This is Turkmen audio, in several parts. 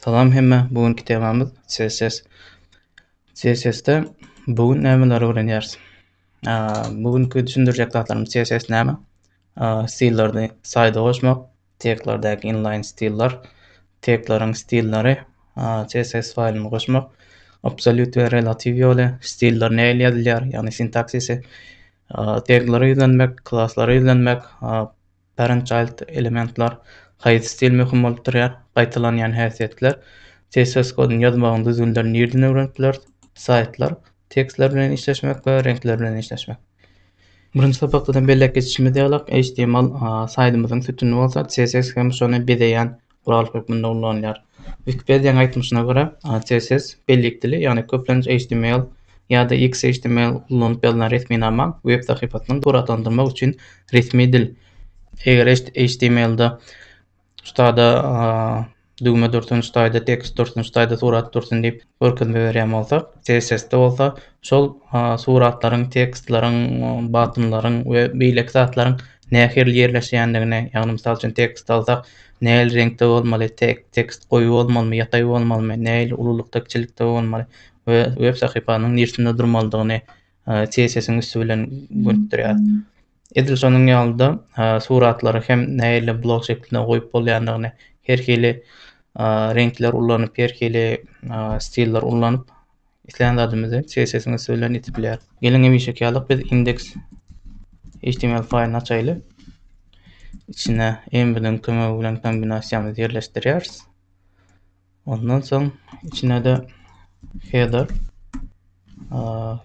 Salam hemmä. Bu günki temamyz CSS. CSS-de bu gün nämeleri öwrenýäris? Bu günki düşündirjek zatlarymyz CSS näme? Stillerini saýda goşmak, teglerdäki inline stiller, tegleriň stilleri, CSS faýlyny goşmak, absolýut we relatiw ýoly, stiller nähili ýazylýar, ýagny sintaksisi, teglere ýüzlenmek, klaslara ýüzlenmek, Parent-Child elementler haýsy stil möhüm bolup durýar? Gaýtalanýan häsiýetler CSS koduny ýazmagyň düzgünlerini nirden öwrenip bileris? Saýtlar, tekstler bilen işleşmek we reňkler bilen işleşmek. Birinji sapakdadan belläp geçişimiz ýaly, HTML saýdymyzyň sütüni bolsa, CSS hem şony bezeýän guraly hökmünde ulanylýar. Wikipediýanyň aýtmyşyna görä, CSS bellik dili, ýagny köplenç HTML ýa-da XHTML ulanyp ýazylan resminama web sahypasyny suratlandyrmak üçin resmi dil. Eger HTML-de ştada düwme dursun, ştada tekst dursun, ştada surat dursun diýip görkezme berýän bolsak, CSS-de bolsa şol suratlaryň, tekstleriň, batynlaryň we beýleki zatlaryň nähili ýerleşýändigine, ýagny mysal üçin tekst alsak, nähili reňkde bolmaly, tekst goýy bolmalymy, ýataý bolmalymy, nähili ululykda, kiçilikde bolmaly we web sahypanyň nirsinde durmalydygyny CSS-iň üsti bilen gönükdirýär. Edil şonuň ýaly-da suratlary hem nähili blok şeklinde goýup bolýandygyny, her hili reňkler ulanyp, her hili stiller ulanyp Islän zadymyzy CSS-iň üsti bilen ýetip bilýäris. Geliň hemişeki ýaly biz index HTML faýlyny açaýly. Içine env-niň kömegi bilen kombinasiýamyzy ýerleşdirýäris. Ondan soň içine-de header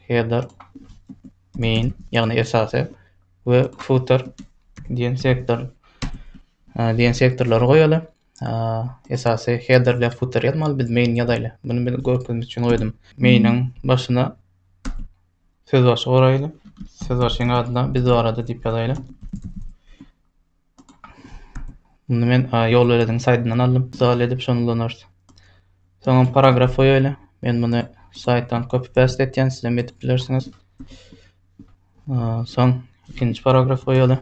header main ýagny esasy we footer diýen sektor diýen sektorlary goýaly. esasy headerle footer ýazmaly biz main ýazaýly. Bunu bir görkezmek üçin goýdum. Mainiň başyna söz başy goraýly. Söz başynyň adyna biz barada diýip ýazaýly. Bunu men ýol belediň saýtyndan aldym. Misal edip şony ulanarys. Soňra paragraf goýaýly. Men bunu saýtdan copy paste etýän, siz hem edip bilersiňiz. Soň ikinji paragraf goýaýly.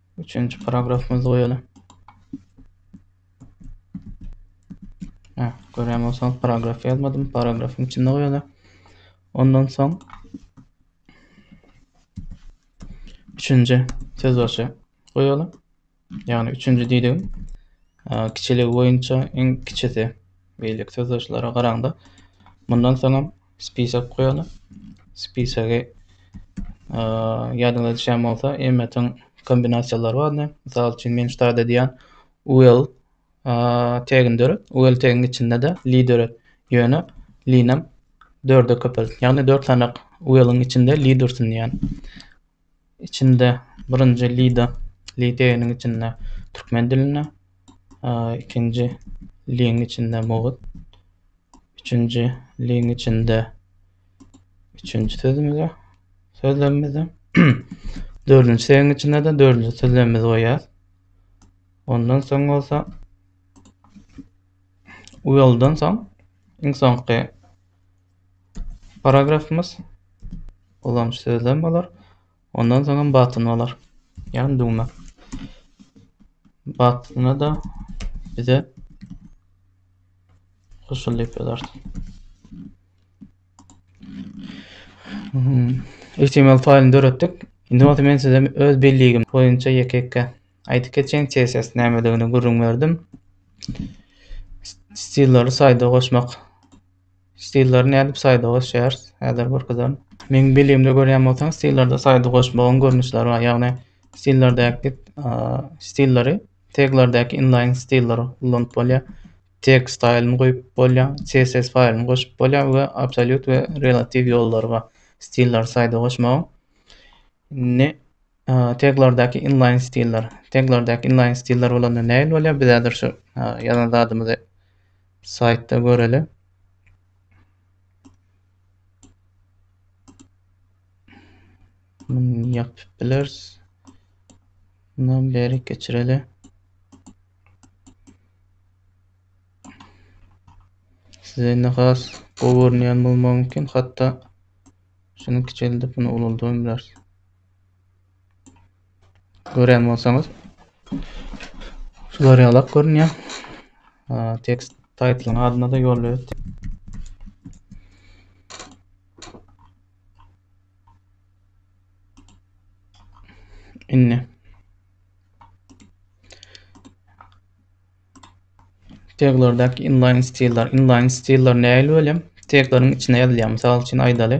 Üçünji paragrafymyzy goýaly. Hä, görýän bolsaňyz paragraf ýazmadym, paragrafyň içinde goýaly. Ondan soň üçünji söz başy goýaly. Ýagny üçünji diýdigim kiçiligi boýunça iň kiçisi. Beýleki söz başlara garaňda mundan soňam Spisek goýalyň. Spisegi ýadyňyza düşen bolsa, emmetin kombinasiýalary bardy. Mysal üçin, men ştat edýän UL tegini döret. UL teginiň içinde de li döret. Ýöne linem dörde köpelt. Ýagny dört sanak UL-iň içinde li dursun diýýän. Içinde birinji lida, li teginiň içinde türkmen dilinde, ikinji liň içinde mugut, üçünji liň içinde üçünji sözümizde, sözlemimizde, dördünji teginiň içinde-de dördünji sözlemimizi goýýarys. Ondan soň bolsa uýaldan soň iň soňky Paragrafymyz ulanyş sözlem bolar. Ondan soňam batyn bolar. Ýagny düwme. Batyna-da bize goşul diýip ýazarsyn. HTML hmm, faýlyny döretdik. Indi bolsa men size öz belligim boýunça ýeke-ýeke aýdyp geçen CSS nämedigini gürrüň berdim. Stillary saýda goşmak Stillary nädip saýda goşýarys? Häzir görkezerin. Meň bilimde görýän bolsaň, stillerde saýda goşmagyň görnüşleri bar. Ýagny stillerdäki stillary teglerdäki inline stiller ulanyp bolýar. Tag stylyny goýup bolýar, CSS faýlyny goşup bolýar we absolýut we relatiw ýollary bar stillary saýda goşmagyň. Indi Teglardaky inlaýn stiller. Teglardaky inlaýn stiller bolanda nähili bolýar? Biz häzir şu ýazan zadymyzy saýtda göreli. Bunu yapıp biliriz. Bundan beri geçireli. Size ne has gowy görünýän bolmagy mümkin. Hatda şunu kiçeldip bunu ulaldyp biliriz. Görýän bolsaňyz şular ýalak görünýär. Tekst title'yň adyna da ýol berip Indi Teglerdäki inline stiller. Inline stiller nähili welem? Tegleriň içine ýazylýar. Mysal üçin aýdaly.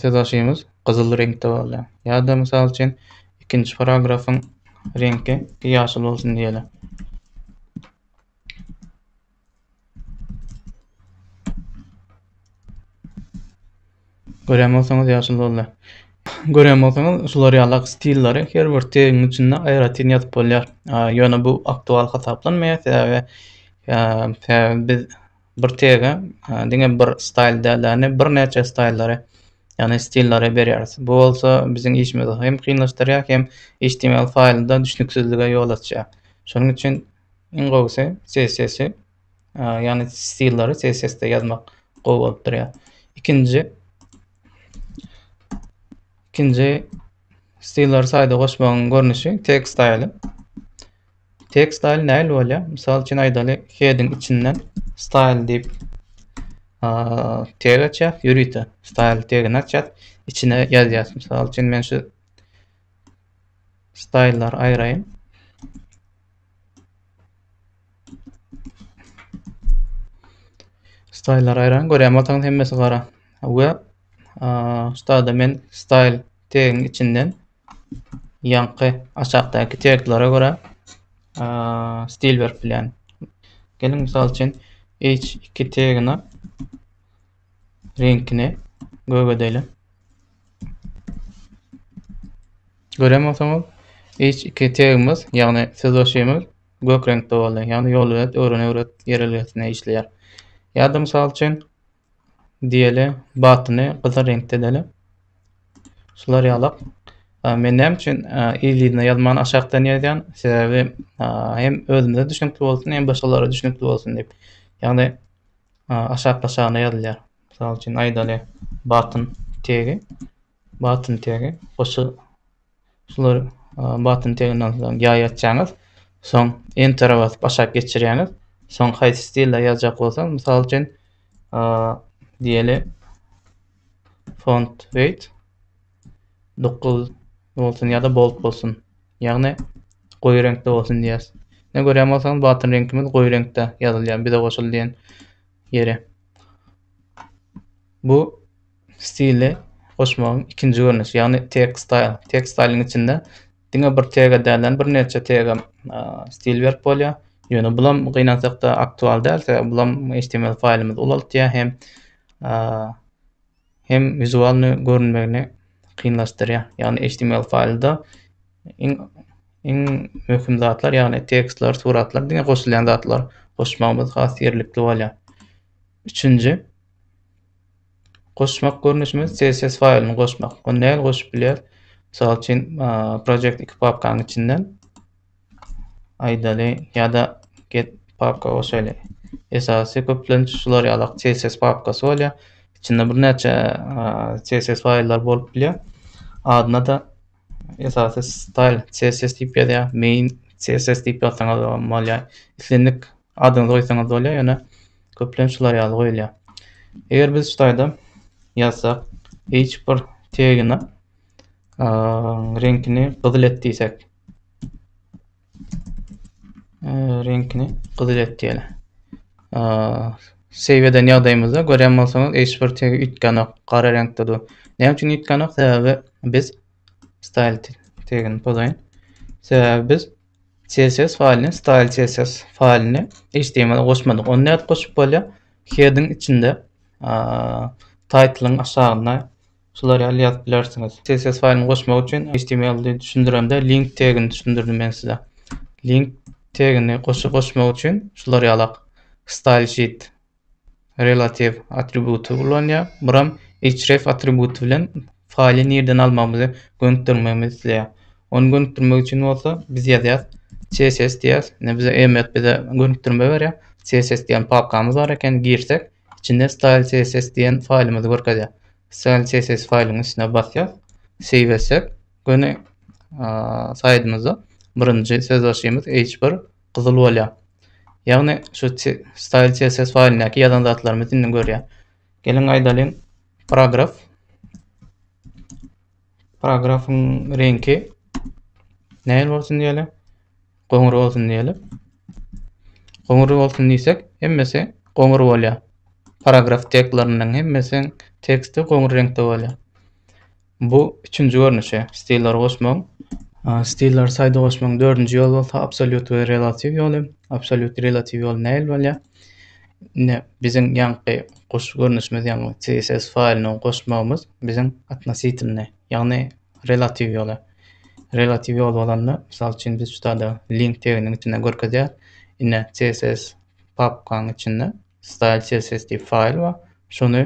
Sözbaşymyz gyzyl reňkde bolýar. Ýa-da, mysal üçin, ikinji paragrafyň reňki ýaşyl bolsun diýeli. Görýän bolsaňyz, ýaşyl boldy. Görýän bolsaňyz, şular ýaly stilleri her bir tegiň içinde aýratyn ýazyp bolýar. Ýöne bu aktual hasaplanmaýar, sebäbi sebäbi biz bir tege diňe bir staýl däl, ýagny birnäçe staýllary, ýagny stillary berýäris. Bu bolsa biziň işimizi hem kynlaşdyrýar, hem HTML faýlynda düşnüksizlige ýol açýar. Şonuň üçin iň gowusy CSS, ýagny stillary CSS-de ýazmak gowy bolup durýar. Ikinji ikinji stillary saýda goşmagyň görnüşi tag staýly. Tag style näl bolýar? Mysal üçin aýdaly heading içinden style diýip tag açýar, ýörite style tagini açýar, içine ýazýar. Mysal üçin men şu style'lar aýraýyn. Style'lar aýraýyn görýän bolsaňyz hemmesi gara. We şu men style tagiň içinden Ýaňky aşakdaky teglere görä stil berip bilýän. Geliň mysal üçin H2 tegine reňkini gök edeýin. Gören bolsaňyz H2 tegimiz, ýagny sözleşigimiz gök reňkde boldy. Ýagny ýol bilet öwren öwret ýerelgesine işleýär. Ýa-da mysal üçin diýeli batyny gyzyl reňkde edeli. Şular ýalak. Men näme üçin ýygyna ýazman aşakdan ýazýan? Sebäbi hem özümize düşünikli bolsun, hem başgalara düşünikli bolsun diýip. Ýagny aşak-aşagyna ýazylýar. Mysal üçin aýdaly batyn tegi, batyn tegi goşgy Şular button tegnal soň ýaý açýaňyz. Soň enter basyp aşak geçirýäňiz. Soň haýsy stilde ýazjak bolsaňyz, mysal üçin, diýeli font weight 9 bolsun ýa-da bold bolsun. Ýagny goýy reňkde bolsun diýýäs. Ne görýän bolsaňyz button reňkimiz goýy reňkde ýazylýar bize goşul diýen ýeri. Bu Stili goşmagyň ikinji görnüşi, ýagny tag style. Tag stylyň içinde diňe bir tag-a dälden birnäçe tag-a stil berip bolýar. Ýöne bulam gynansakda aktual däl, sebäbi bulam HTML faýlymyzy ulaltýar hem hem wizualny görünmegini kynlaşdyrýar. Ýagny HTML faýlda iň iň möhüm zatlar, ýagny tekstler, suratlar diňe goşulýan zatlar goşmagymyz has ýerlikli bolýar. Üçünji Goşmak görnüşimiz CSS faýlyny goşmak. Ony näl goşup bilýär? Mysal üçin, project iki papkanyň içinden aýdaly ýa-da get papka goşaýly. Esasy köplenç şular ýalak CSS papkasy bolýar. Içinde bir näçe CSS faýllar bolup bilýär. Adyna-da esasy style css diýip ýazýar main css diýip ýazsaňyz bolýar islendik adyňyzy goýsaňyz bolýar ýöne köplenç şular ýaly goýulýar eger biz şutaýda ýazsak h1 tegine reňkini gyzyl et diýsek reňkini gyzyl et diýeli. Save eden ýagdaýymyzda görýän bolsaňyz hiç bir tegi üýtgänok, gara reňkde dur. Näme üçin üýtgänok? Sebäbi biz style tegini pozaýyn. Sebäbi biz CSS faýlyny, style CSS faýlyny HTML goşmadyk. Onu nädip goşup bolýar? Heading içinde, title'yň aşagynda şular ýaly ýazyp bilersiňiz. CSS faýlyny goşmak üçin HTML-i düşündiremde link tegini düşündirdim men size. Link tegini goşmak üçin şular ýalak style sheet relative atributy ulanýar. Buram href atributy bilen faýly nirden almagymyzy gönükdirmegimizi isleýär. Ony gönükdirmek üçin bolsa biz ýazýas css diýýäs. Ine bize emläk bize gönükdirme berýär. CSS diýen papkamyz bar eken girsek içinde style css diýen faýlymyzy görkezýär. Style css faýlyň üstüne basýar. Save etsek, göni saýdymyzda birinji söz başymyz H1 gyzyl bolýar. Ýagny şu style css faýlyndaky ýazan zatlarymyzy indi görýär. Geliň aýdalyň paragraf paragrafyň reňki nähili bolsun diýeli. Goňur bolsun diýeli. Goňur bolsun diýsek, hemmesi goňur bolýar. Paragraf tekstleriniň hemmesiniň teksti goňur reňkde bolýar. Bu üçünji görnüşi stilleri goşmagyň. Stilleri saýda goşmagyň dördünji ýoly bolsa absolýut we relatiw ýoly. Absolýut we relatiw ýoly nähili bolýar? Indi biziň ýaňky goşuş görnüşimiz, ýagny CSS faýlyny goşmagymyz biziň atnositilne, ýagny relatiw ýola. Relatiw ýol bolanda, mysal üçin, biz şu sada link teginiň içinde görkezýär. Ine, CSS papkaň içinde style CSS diýip faýl bar. Şuny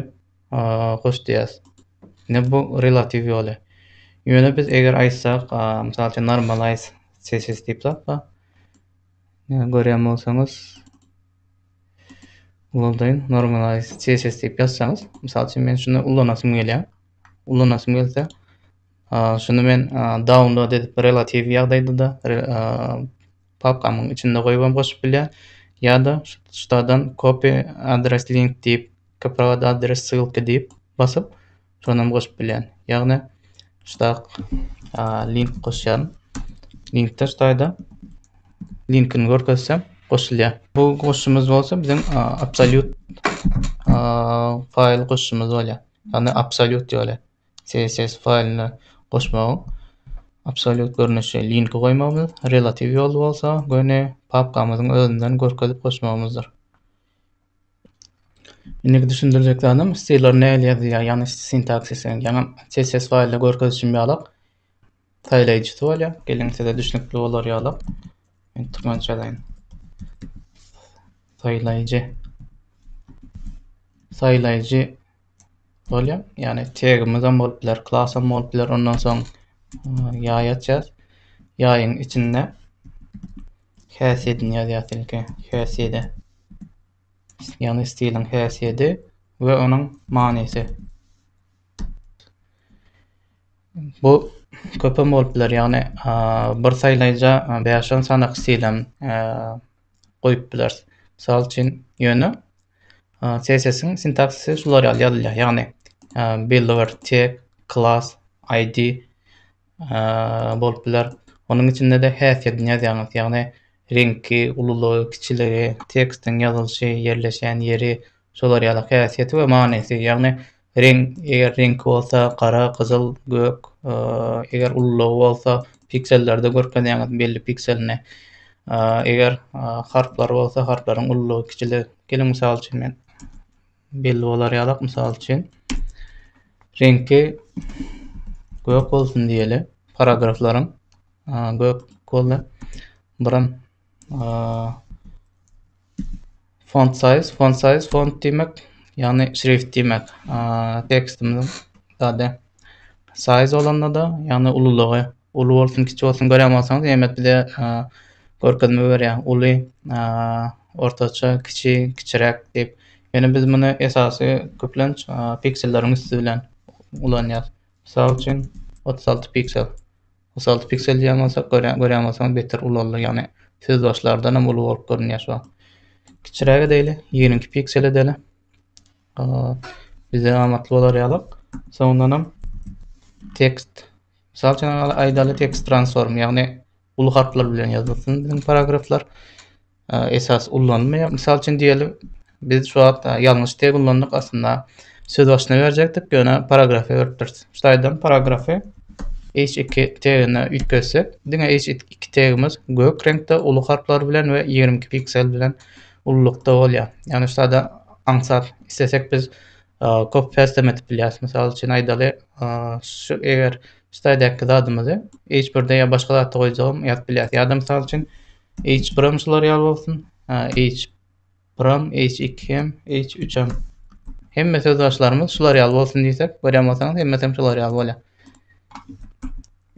goş diýýäs. Ine bu relatiw ýoly. Ýöne biz eger aýtsak, mysal üçin normalize CSS diýip zat bar. Görýän bolsaňyz, ulaldaýyn normalize CSS diýip ýazsaňyz, mysal üçin men şuny ulanasym gelýär. ulanasym gelse. Şunu men download edip relatiw ýagdaýda da papkamyň içinde goýup hem goşup bilýär. Ýa-da şutadan copy adres link diýip, copy adres ссылка diýip basyp, şony hem goşup bilýän. Ýagny şutak link goşýan. Linkde şutaýda linkini görkezsem goşulýar. Bu goşumyz bolsa biziň absolýut faýl goşumyz bolýar. Ony absolýut ýoly CSS faýlyna goşmagyň absolýut görnüşi linki goýmagymyz, relatiw ýoly bolsa göni papkamyzyň özünden görkezip goşmagymyzdyr. Indiki düşündirjek zadym stilleri nähili ýazylýar, ýagny sintaksisi, ýagny CSS faýlda görkezişim ýalak saýlaýjysy bolýar. Geliň size düşnükli bolar ýaly men türkmençe ýazaýyn. Saýlaýjy. Saýlaýjy bolýar. Ýagny tegimiz hem bolup biler, klas hem bolup biler. Ondan soň e, ýaý açýas. Ýaýyň içinde häsiýedini ýazýas ilki. Häsiýedi. Ýagny stiliň häsiýedi we onuň manysy. Bu köpem bolup biler. Ýagny, bir saýlaýja bäş-on sany stil hem goýup bileris. Mysal üçin, ýöne CSS-iň sintaksisy şular ýaly ýazylýar. Ýagny, belli bir tag, klass, ID bolup biler. Onuň içinde-de häsiýetini ýazýaňyz. Ýagny, reňki, ululygy, kiçiligi, tekstiň ýazylyşy, ýerleşen ýeri, şular ýaly häsiýeti we manysy. Ýagny, Reňk, eger reňki bolsa gara, gyzyl, gök, eger ululygy bolsa piksellerde görkezýäňiz belli pikselini. Eger harplar bolsa harplaryň ululygy kiçili. Geliň mysal üçin men belli bolar ýalak mysal üçin reňki gök bolsun diýeli paragraflaryň gök boldy. Buram Font size, font size, font diýmek, ýagny şrift diýmek. Tekstimiziň zady size bolanda-da, ýagny ululygy, uly bolsun, kiçi bolsun görýän bolsaňyz, Emet bize görkezme berýär. Uly, ortaça, kiçi, kiçiräk diýip. Ýöne biz muny esasy köplenç pikselleriň üsti bilen ulanýarys. Mysal üçin, otuz alty piksel. Mysal piksel diýen bolsa görýän görýän bolsaňyz beter ulaldy ýagny söz başlardanam uly bolup görünýär şu an. Kiçiräk edeli 22 piksel edeli. Bize amatly bolar ýalyk. Soňundanam tekst Mysal üçin aýdaly tekst transform ýagny uly harplar bilen ýazylsyn biziň paragraflar. esas ullanylmaýar. Mysal üçin diýeli, biz şu wagt ýalňyş teg ullandyk aslynda. Söz başyna berjekdik, ýöne paragrafy beripdiris. Şaýdan paragrafy H2 tegine üýtgetsek, diňe H2 tegimiz gök reňkde uly harplar bilen we 22 piksel bilen ululykda bolýar. Ýagny şaýda aňsat islesek biz kop päsdem edip bilýäris. Mysal üçin aýdaly, şu eger şaýdaky zadymyzy H1-de ýa başga zatda goýjagym ýazyp bilýäris. Ýa-da mysal üçin H prim şular ýaly bolsun. Ha, H prim, H iki hem, H üç hem. Hemme sözbaşlarymyz şular ýaly bolsun diýsek, görýän bolsaňyz, hemmesi hem şular ýaly bolýar.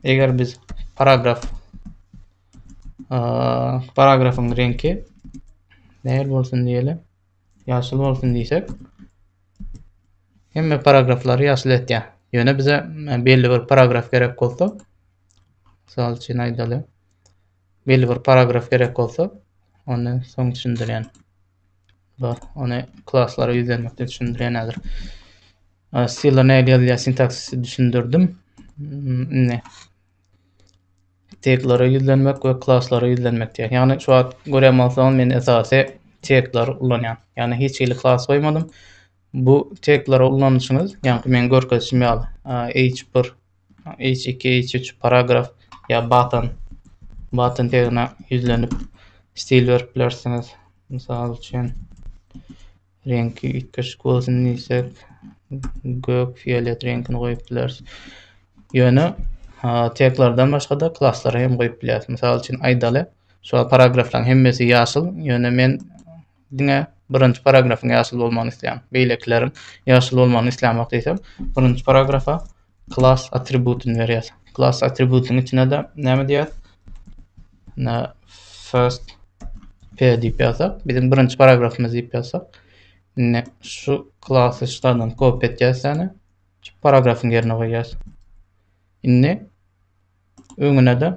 Eger biz paragraf paragrafyň reňki nähili bolsun diýeli? Ýaşyl bolsun diýsek, hemme paragraflary ýaşyl etýär. Ýöne bize belli bir paragraf gerek bolsa, mysal üçin aýdaly, belli bir paragraf gerek bolsa, onda soň düşündirýän. Bar, ony klaslara ýüzlenmekde düşündirýän häzir. Stilde nädip ýazylýar sintaksisi düşündirdim. Hmm, indi teglere ýüzlenmek we klaslara ýüzlenmek diýär. Ýagny şu wagt görýän bolsaňyz men esasy tegler ulanýan. Ýagny hiç hili klas goýmadym. Bu tegleri ulanyşyňyz, ýagny men görkezişim ýaly, H1 H2-H3 paragraf ýa button button tegine ýüzlenip stil berip bilersiňiz. Mysal üçin reňki üýtgeşik bolsun diýsek, gök, fiolet reňkini goýup bileris. Ýöne teklardan başga-da klasslary hem goýup bilýäris. Mysal üçin aýdaly, şu paragraflaryň hemmesi ýaşyl, ýöne men Diňe birinji paragrafyň ýaşyl bolmagyny isleýän. Beýlekileriň ýaşyl bolmagyny islämok diýsem, birinji paragrafa klass atributyny berýär. Klass atributynyň içine-de näme diýýär? Ne first p diýip ýazsak, biziň birinji paragrafymyz diýip ýazsak, ne şu klasy şulardan kopýa etýäs ýa-da şu paragrafyň ýerine goýýas. Indi öňüne-de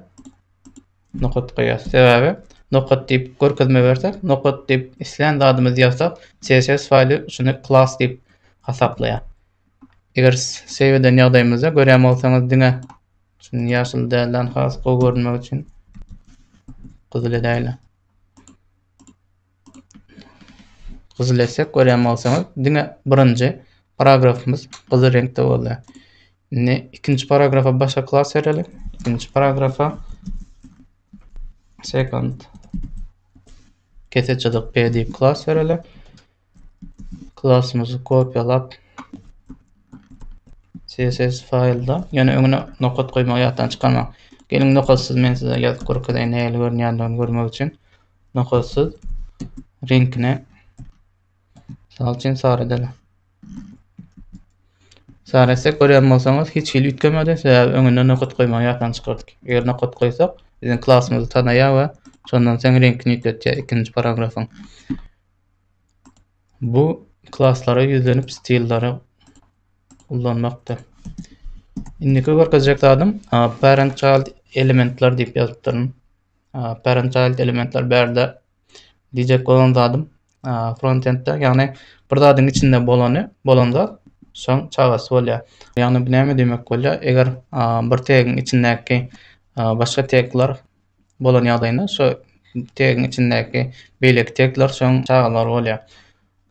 nokat goýarys. Sebäbi nokat diýip görkezme bersek, nokat diýip islän zadymyzy ýazsak, CSS faýly şuny klass diýip hasaplaýar. Eger save eden ýagdaýymyzda görýän bolsaňyz diňe şuny ýaşyl dälden has gowy görünmek üçin gyzyl edäýle. Gyzyl etsek görýän bolsaňyz diňe birinji paragrafymyz gyzyl reňkde boldy. Indi ikinji paragrafa başga klas bereli. İkinci paragrafa second keseçilik p diýip klas bereli. Klasymyzy kopýalap CSS faýlda, ýöne öňüne nokat goýmagy ýatdan çykarmaň. Geliň nokatsyz men size ýazyp görkezeýin nähili görünýändigini görmek üçin. nokatsyz reňkine misal üçin sary edeli. Sary etsek görýän bolsaňyz hiç hili üýtgemedi, sebäbi öňünden nokat goýmagy ýatdan çykardyk. Eger nokat goýsak, biziň klasymyzy tanaýar we şondan soň reňkini üýtgetýär ikinji paragrafyň. Bu klaslara ýüzlenip stillere ullanmakdyr. Indiki görkezjek zadym parent child elementler diýip ýazypdyryn. parent child elementler bärde diyjek bolan zadym frontendde ýagny bir zadyň içinde bolany bolan zat şoň çagasy bolýar ýagny bu näme diýmek bolýar eger bir tegiň içindäki başga tegler bolan ýagdaýynda şo tegiň içindäki beýleki tegler şoň çagalary bolýar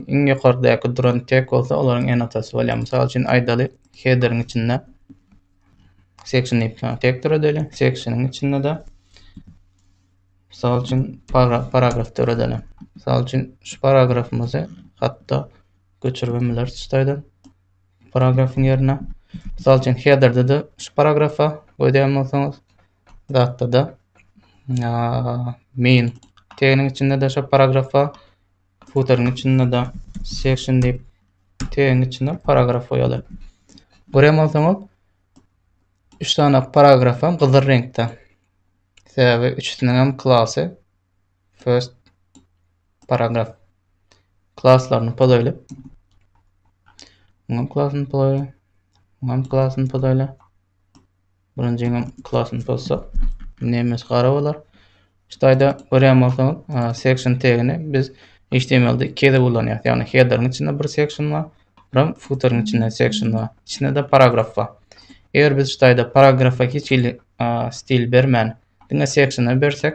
Iň ýokardaky duran tek bolsa olaryň enotasy bolýar. Mysal üçin aýdaly headeriň içinde section diýip tek döredeli, sectioniň içinde de Mysal üçin paragraf döredeli. Mysal üçin şu paragrafymyzy hatda göçürip bileris tusaýdan paragrafyň ýerine. Mysal üçin headerde de şu paragrafa goýýan bolsaňyz, zatda da main teginiň içinde de şu paragrafa Futeryň içinde-de section diýip, tegiň içinde paragraf goýaly. Gören bolsaňyz, üç sany paragraf hem gyzyl reňkde. Sebäbi üçüsiniň hem klasy first paragraf klaslaryny podaýly. Muňam klasyny podaýly. Muňam klasyny podaýly. Bunuň jeňem klasyny pozsak, nemes gara bolar. Ştaýda görýän bolsaňyz, section tegini biz HTML-de iki gezek ulanýarys. Ýagny header-iň içinde bir section bar, hem footer-iň içinde section bar. Içinde de paragraf bar. Eger biz ştaýda paragrafa hiç hili stil bermän, diňe section-a bersek,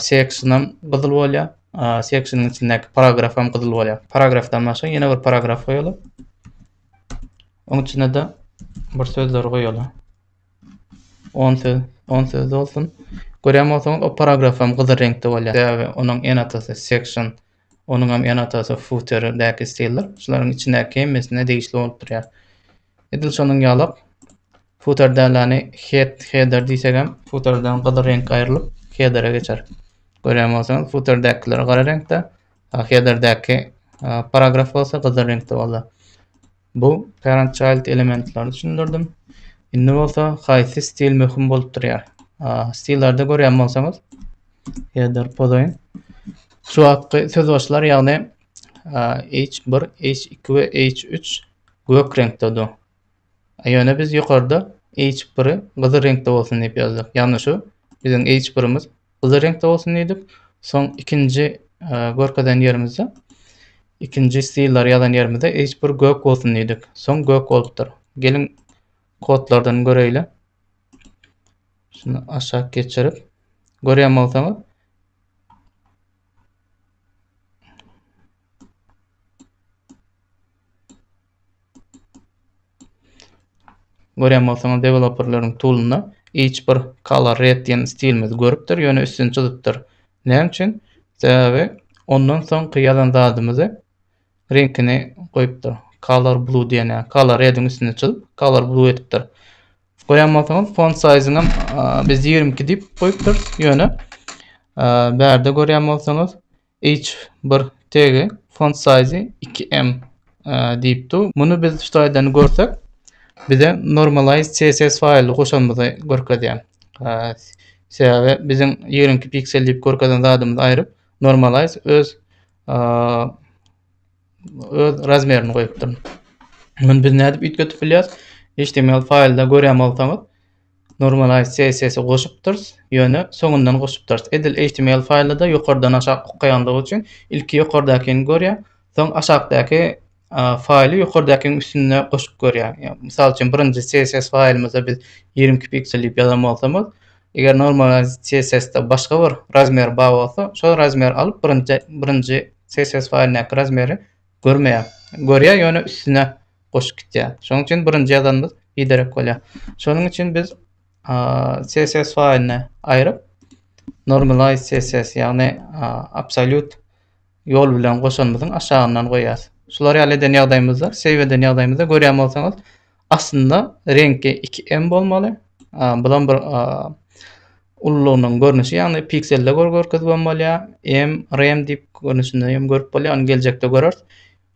seksionam gyzyl bolýar. Seksionuň içindäki paragraf hem gyzyl bolýar. Paragrafdan başga ýene bir paragraf goýaly. Onuň içine de bir sözler goýaly. 10 söz, 10 söz bolsun. Görýän bolsaňyz, o paragraf hem gyzyl reňkde bolýar. Sebäbi onuň en atasy section Onuňam ene-atasy futer däki stildir. Şularyň içindäki hemmesine degişli bolup durýar. Edil şonuň ýalak futer dälani head header diýsegem futerden gyzyl reňk aýrylyp headere geçer. Görýän bolsaňyz futerdäkiler gara reňkde, headerdäki paragraf bolsa gyzyl reňkde boldy. Bu parent child elementleri düşündirdim. Indi bolsa haýsy stil möhüm bolup durýar? Stillerde görýän bolsaňyz header pozaýyn. Şu wagtky söz başlar ýagny H1, H2 we H3 gök reňkdedir. Ýöne biz ýokarda H1-i gyzyl reňkde bolsun diýip ýazdyk. Ýagny şu biziň H1-imiz gyzyl reňkde bolsun diýdik. Soň ikinji e, görkezen ýerimizde ikinji stiller ýazan ýerimizde hiç bir gök bolsun diýdik. Soň gök bolupdyr. Geliň kodlardan göreýle. Şunu aşak geçirip görýän bolsaňyz Görýän bolsaňyz deweloperleriň toolynda hiç bir color red diýen stilimizi görüpdir, ýöne üstüni çyzypdyr. Näme üçin? Sebäbi ondan soňky ýazan zadymyzy reňkini goýupdyr. Color blue diýen ýa color rediň üstüni çyzyp color blue edipdir. Görýän bolsaňyz font size-yny hem biz 22 diýip goýupdyrys, ýöne bärde görýän bolsaňyz Each bir tegi font size iki m diýip dur. Muny biz şu taýdan görsek bize normalize css faýly goşanymyzy görkezýär. Sebäbi biziň ýigrimi piksel diýip görkezen zadymyzy aýryp normalize öz öz razmerini goýupdyr. Muny biz nädip üýtgetip bilýäris? HTML faýlda görýän bolsaňyz Normalize CSS-i goşupdyrys, ýöne soňundan goşupdyrys. Edil html faýlda-da ýokardan aşak okaýanlygy üçin ilki ýokardakini görýär, soň aşakdaky faýly ýokardakynyň üstünde goşup görýär. Ýa mysal üçin birinji CSS faýlymyza biz ýigrimi iki piksel diýip ýazan bolsamyz, eger normalize CSS-de başga bir razmer bar bolsa, şol razmeri alyp birinji birinji CSS faýlyndaky razmeri Görmeýär. Görýär, ýöne üstüne goşup gitýär. Şonuň üçin birinji ýazanymyz biderek bolýar. Şonuň üçin biz CSS faýlyny aýryp, normalize CSS, ýagny absolýut ýol bilen goşanymyzyň aşagyndan goýýarys. Şular ýaly eden ýagdaýymyzda, save eden ýagdaýymyzda görýän bolsaňyz, Aslynda reňki iki m bolmaly. Bulam bir ululygynyň görnüşi, ýagny pikselde görkezip hem bolýar, m, rem diýip görnüşinde hem görüp bolýar, ony geljekde göreris.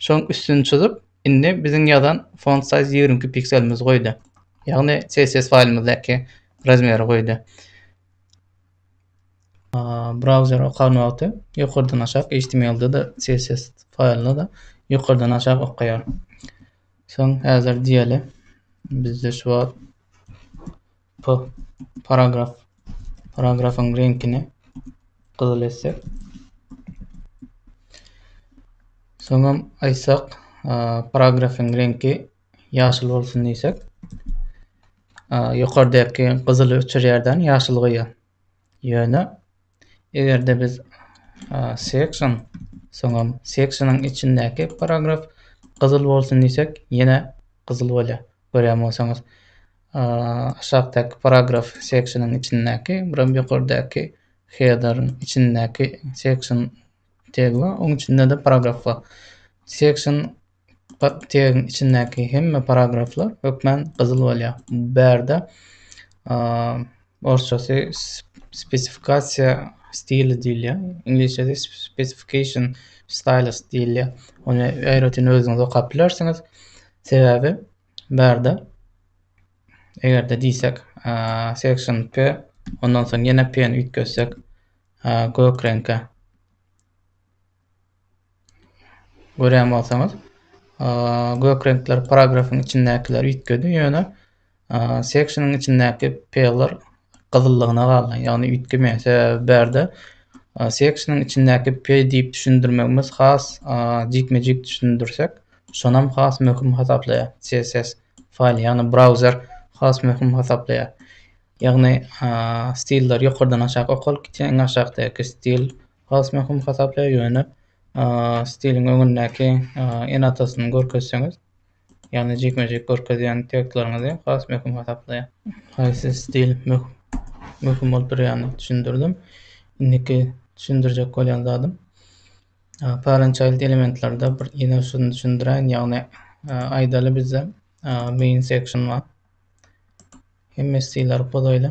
Şoň üstüni çyzyp, indi biziň ýazan font size ýigrimi iki pikselimizi goýdy. Ýagny CSS faýlymyzdaky razmeri goýdy. Browser okan wagty ýokardan aşak HTML-de de CSS faýlyny da ýokardan aşak okaýar. Soň häzir diýeli, bizde şu wagt p paragraf paragrafyň reňkini gyzyl etsek. Soňam aýtsak, paragrafyň reňki ýaşyl bolsun diýsek. Ýokardaky gyzyly öçürýärden ýaşyl goýýar. Ýöne Eger-de biz section soňam sectionyň içindäki paragraf gyzyl bolsun diýsek, ýene gyzyl bolýar. Görýän bolsaňyz, aşakdaky paragraf sectionyň içindäki, buram ýokardaky header-iň içindäki section tag bar, onuň içinde-de paragraf bar. Section tegiň içindäki hemme paragraflar hökmän gyzyl bolýar. Bärde orsçasy spesifikasiýa stili diýilýär. Iňlisçesi specification styles diýilýär. Ony aýratyn özüňiz okap bilersiňiz. Sebäbi bärde eger-de diýsek section p ondan soň ýene p-ni üýtgetsek gök reňke Görýän bolsaňyz, gök reňkler paragrafyň içindäkileri üýtgedi, ýöne section-yň içindäki P-ler gyzyllygyna galdy. Ýagny üýtgemeýär. Sebäbi bärde section-yň içindäki P diýip düşündirmegimiz has jikme-jik düşündirsek, şonam has möhüm hasaplaýar CSS faýly, ýagny brauzer has möhüm hasaplaýar. Ýagny stilleri ýokardan aşak okalyp gitýär, iň aşakdaky stil Has möhüm hasaplaýar ýöne stiliň öňündäki ene-atasyny görkezseňiz, ýagny jikme-jik görkezýän tekstlaryňyzy has möhüm hasaplaýar. Haýsy stil möhüm bolup durýanyny düşündirdim. Indiki düşündirjek bolýan zadym parent child elementlerde bir ýene şuny düşündiräýin, ýagny aýdaly bizde main section bar. Hemme stilleri pozaýly.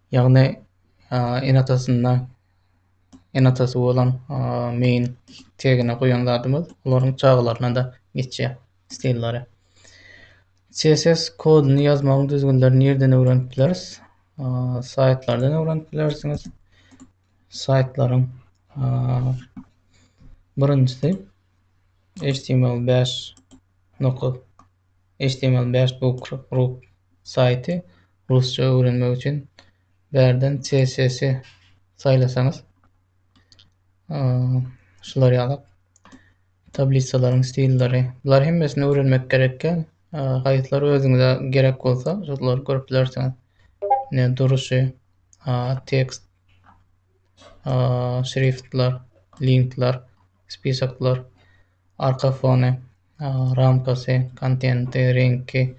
Ýagny ene-atasynda ene-atasy bolan main tegine goýan zadymyz olaryň çagalaryna-da geçýär stillary. CSS koduny ýazmagyň düzgünlerini nireden öwrenip bileris? Saýtlardan öwrenip bilersiňiz. Saýtlaryň birinjisi HTML beş nokta HTML beş book group saýty. Rusça öwrenmek üçin bärden CSS saýlasaňyz şular ýalak tablisalaryň stilleri. Bular hemmesini öwrenmek gerekkä. Haýsylary özüňize gerek bolsa, şolary görüp bilersiňiz. Ne duruşy, tekst, şriftler, linkler, spisaklar, arka fony, ramkasy, kontenti, reňki.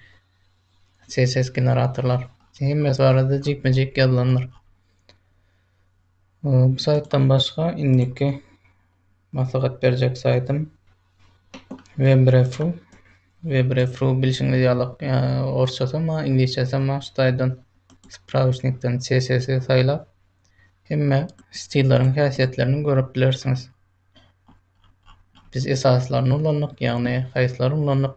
CSS generatorlar. Hemmesi barada jikme-jik ýazylandyr. Bu saýtdan başga indiki maslahat berjek saýtym WebRefru. WebRefru bilşiňiz ýaly orsçasy hem bar, iňlisçesi hem bar. Şu saýtdan spravişnikden CSS saýlap hemme stilleriň häsiýetlerini görüp bilersiňiz. Biz esaslaryny ulandyk, ýagny haýsylaryny ulandyk?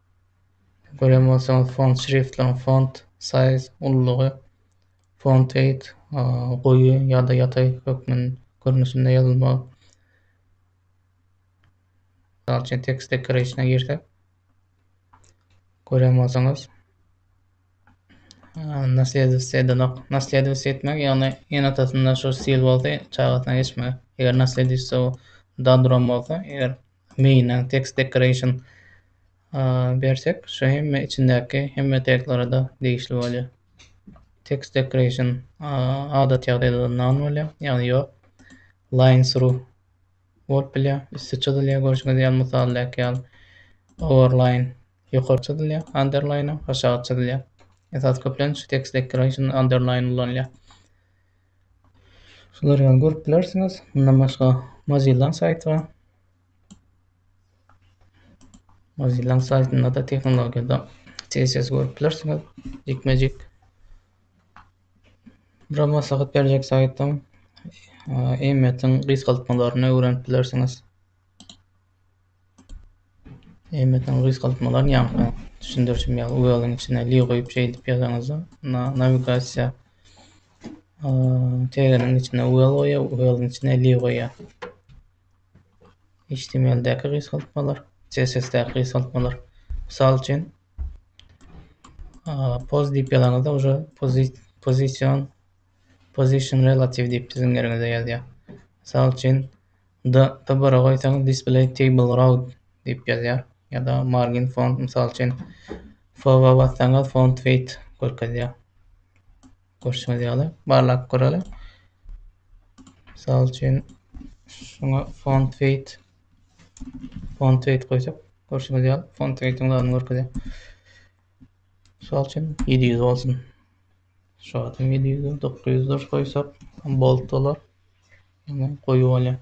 Görýän bolsaňyz font şriftlaryň font size ululygy font weight goýy ýa-da ýataý hökmün görnüşinde ýazylmagy. Mysal üçin text decoration-a girsek görýän bolsaňyz naslýedowsi edenok. Naslýedowsi etmek ýagny ene-atasynda şu stil bolsa çagasyna geçmegi. Eger naslýedowsi dadrom bolsa eger Main-a text decoration bersek, şu hemme içindäki hemme taglara-da degişli bolýar. Text decoration adat ýagdaýda-da none bolýar, ýagny ýok. Line through bolup bilýär, üsti çyzylýar görşüňiz ýaly mysaldaky ýaly. Overline ýokary çyzylýar, underline-a aşagy çyzylýar. Esasy köplenç text decoration underline ulanylýar. Şular ýaly görüp bilersiňiz. Mundan başga Mozilla saýty bar. Mozilla saýtynda-da tehnologiýada CSS görüp bilersiňiz. Jikme-jik. Bura maslahat berjek saýtym. Eýmetiň gysgaltmalaryny öwrenip bilersiňiz. Emmetden gysgaltmalar ýaňky düşündirişim ýaly wweliň içine li goýup şeýdip ýazaňyzda na nawigasiýa teginiň içine wwel goýýar wweliň içine li goýýar. Htmldäki gysgaltmalar CSSdäki gysgaltmalar mysal üçin poz diýip ýazaňyzda uje pozi pozisiýon Position relative diýip siziň ýeriňize ýazýar. Mysal üçin, D, D bir goýsaňyz display table row diýip ýazýar. Ýa-da margin font mysal üçin F-we bassaňyz font weight görkezýär. Görşüňiz ýaly barlap göreli. Mysal üçin şuňa font weight font weight goýsak görşüňiz ýaly font weight-iň görkezýär. Misal üçin 700 bolsun. Şu adam ýedi ýüz dur, dokuz ýüz dur goýsak, bolt bolar. Indi goýy bolýar.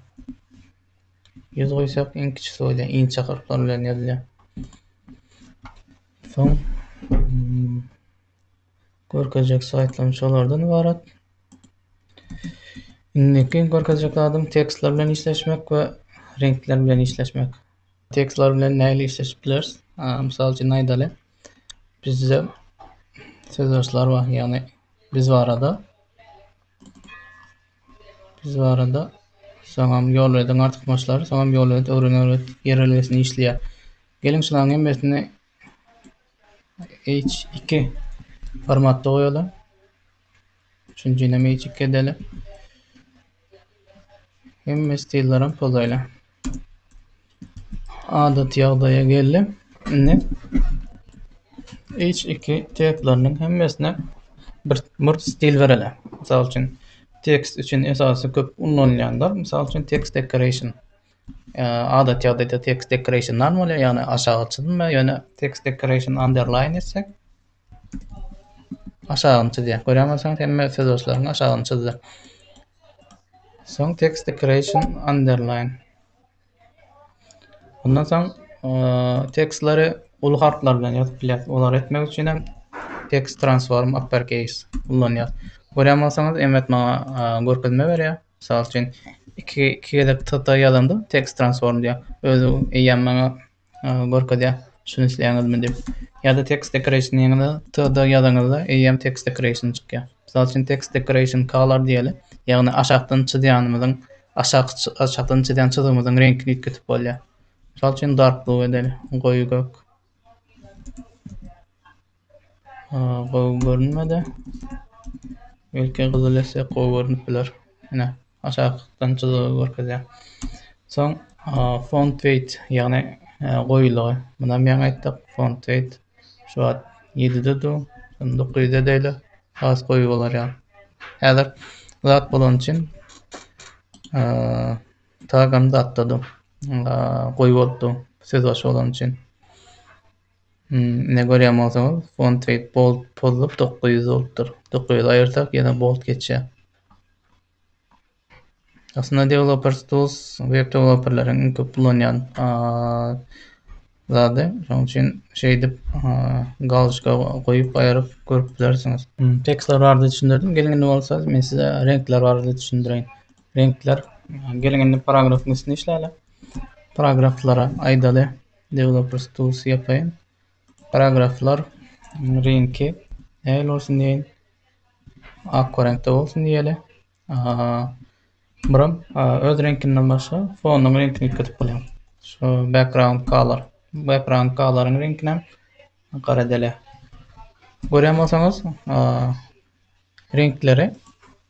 Ýüz goýsak, iň kiçisi bolýar, inçe harplar bilen ýazylýar. Soň hmm, görkezjek slaýdlarym şolardan ibarat. Indiki görkezjek zadym tekstler bilen işleşmek we reňkler bilen işleşmek. Tekstler bilen nähili işleşip bileris? Mysal üçin aýdaly, bizde sözbaşlar bar, ýagny biz barada biz barada soňam ýolbediň artykmaçlary, soňam ýolbedi öwren-öwret ýerelgesini işleýär. Geliň şularyň hemmesini H2 formatda goýaly. Üçünjini magic edeli. Hemme stillerim pozaýla. Adat ýagdaýa geldi. Indi iç iki tepleriniň hemmesine bir mürt stil bereli. Mysal üçin tekst üçin esasy köp ulanylýanlar, mysal üçin text decoration. Adat ýagdaýda text decoration normal, ýagny aşagy çyzma, ýöne text decoration underline etsek, Aşagyny çyzýar. Görýän bolsaňyz hemme sözaşlaryň aşagyny çyzdy. Soň text decoration underline. Ondan soň tekstleri uly harplar bilen ýazyp bilýär. Olary etmek üçin hem text transform uppercase ulanýar. Görýän bolsaňyz emmet maňa görkezme berýär. Mysal üçin iki iki gezek TT ýazanda text transform diýär. Özi eýýäm maňa görkezýär. Şuny isleýäňizmi diýip. Ýa-da text decoration diýeniňizde TD ýazanyňyzda EM text decoration çykýar. Mysal üçin text decoration color diýeli. Ýagny aşakdan çyzýanymyzyň aşakdan çyzýan çyzgymyzyň reňkini üýtgetip bolýar. Mysal üçin dark blue edeli, goýy gök. Gowy görünmedi. Belki gyzyl etsek gowy görünip biler. Ine, aşakdan çyzygy görkezýär. Soň font weight, ýagny goýulygy. Munam ýaňy aýtdyk, font weight şu wagt 7-de dur, şonda 900 edeýli, has goýy bolar ýaly. Häzir zat bolany üçin tagam zatda dur. Goýy bolupdy, söz başy bolany üçin. Ine görýän bolsaňyz font we bold pozulyp dokuz ýüz bolupdyr. Dokuz ýüz aýyrsak ýene bold geçýär. Aslynda developers tools web developerleriň iň köp ulanýan zady. Şonuň üçin şeýdip galçka goýup aýryp görüp bilersiňiz. Tekstler barada düşündirdim. Geliň indi bolsa men size reňkler barada düşündireýin. Reňkler geliň indi paragrafyň üstüne işläle. Paragraflara aýdaly Developers tools ýapaýyn paragraflar reňki nähili bolsun diýeýin. Ak reňkde bolsun diýeli. Buram öz reňkinden başga fonuň reňkini ýüklüp bolýar. Şu background color. Background coloryň reňkini gara edeli. Görýän bolsaňyz, reňkleri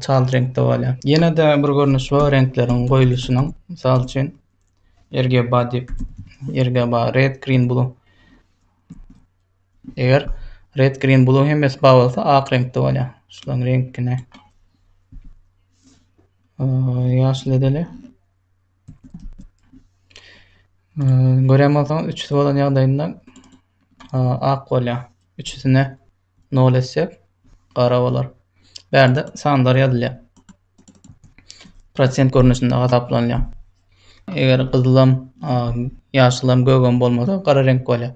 Çalt reňkde bolýar. Ýene-de bir görnüş bar reňkleriň goýluşynyň. Mysal üçin, RGB diýip, RGB, red, green, blue. Eger red, green, blue hemmesi bar bolsa, ak reňkde bolýar. Şularyň reňkini ýaşyl edeli. Görýän bolsaňyz, üçüsi bolan ýagdaýynda ak bolýar. Üçüsine Nol etsek gara bolar. Bärde sanlar ýazylýar. Prosent görnüşinde hasaplanýar. Eger gyzylam, ýaşylam, gögem bolmasa gara reňk bolýar.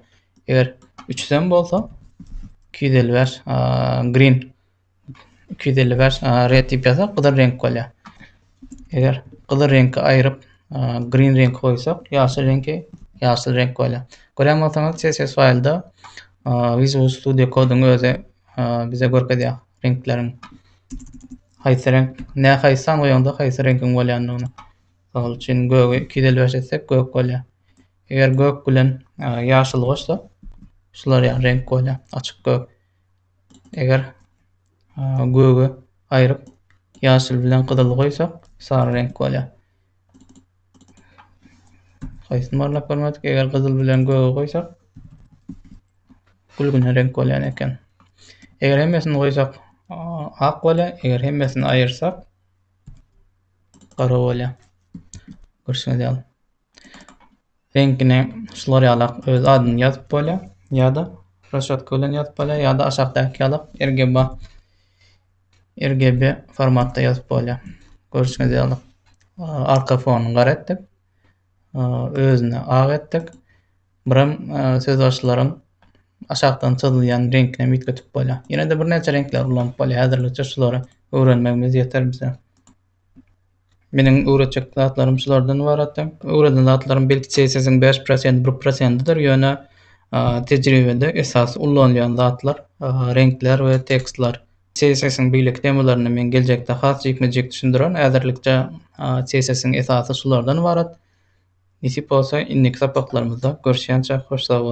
Eger 300 hem bolsa 255 green 255 red diýip ýazsak gyzyl reňk bolýar. Eger gyzyl reňki aýryp, green reňki goýsak, ýaşyl reňki ýaşyl reňk bolýar. Görýän bolsaňyz CSS faýlda Visual Studio koduň özi bize görkezýär reňkleriň haýsy reňk, nä haýsy san goýanda haýsy reňkiň bolýandygyny. Mysal üçin gögi 255 etsek gök bolýar. Eger gök bilen ýaşyl goşsa, şular ýaly reňk bolýar, açyk gök. Eger göge aýryp ýaşyl bilen gyzyly goýsak sary reňk bolýar. Haýsyny barlap görmedik. Eger gyzyl bilen göge goýsak gülgüne reňk bolýan eken. Eger hemmesini goýsak ak bolýar. Eger hemmesini aýyrsak gara bolýar. Görşüňiz ýaly. Reňkine şular ýala öz adyny ýazyp bolýar. Ýa-da roşatka bilen ýazyp bolýar, ýa-da aşakdaky ýala RGB RGB formatda ýazyp bolýar. Görüşüňiz ýaly arka fonyny gara etdik. Özüni ak etdik. Birim söz başlaryň aşakdan çyzylýan reňkine mitgetip bolýar. Ýene-de birnäçe reňkler ulanyp bolýar. Häzirlikçe şulary öwrenmegimiz ýeter bize. Meniň öwretjek zatlarym şulardan ybaratdy. Öwreden zatlarym belki CSS-iň 5 prosent, 1 prosentidir, ýöne tejribede esas ulanylýan zatlar reňkler we tekstler. CSS-iň beýleki temalaryny men geljekde has jikme-jik düşündirerin. Häzirlikçe CSS-iň esasy şulardan ybarat. Nesip bolsa, indiki sapaklarymyzda görüşýänçä hoş sag boluň!